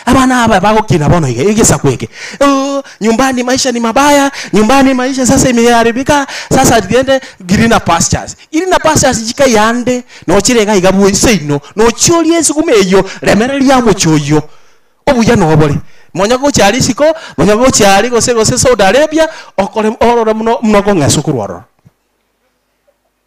Abana aba bagokina bono iga, egesaku eke, ooh nyumbani maisha ni mabaya, nyumbani maisha sasa imeharibika, sasa riende greener pastures. Greener pastures chikai ande, nochire iga iga bwoyi seino, nochia orie esuguma eyio, remereria omochie oyio, obuya nobore. Nonya gochia aria isiko, nonya gochia aria gose gose Saudi Arabia, okore orore buna buna okong'eswa korwa ororo.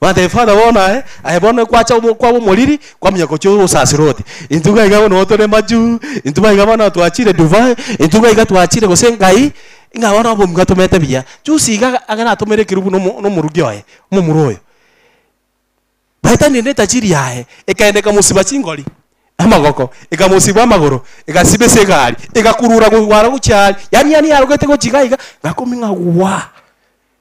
Bagateba, Father, bono aye, aye bono gwacha obo- kwaba omoriri, kwamanya gochia ogosasera oti, intwe iga iga bono tore majuu, intwe iga iga bono twachire divai, intwe iga iga twachire gose engai, ng'a bono obomu gatomete buya. Juzi iga aga- agaratomere ekerubu na omo- na omoruki oye, omomura oyo. Baetanire netachiri yaye, ekaenda ekamosiba chingori, amagoko, ekamosiba amagoro, egasiba ase egari, egakurura gogwara gochia aria. Yaani yaani yarogete gochia iga iga, ng'a akomia ng'a gwaa.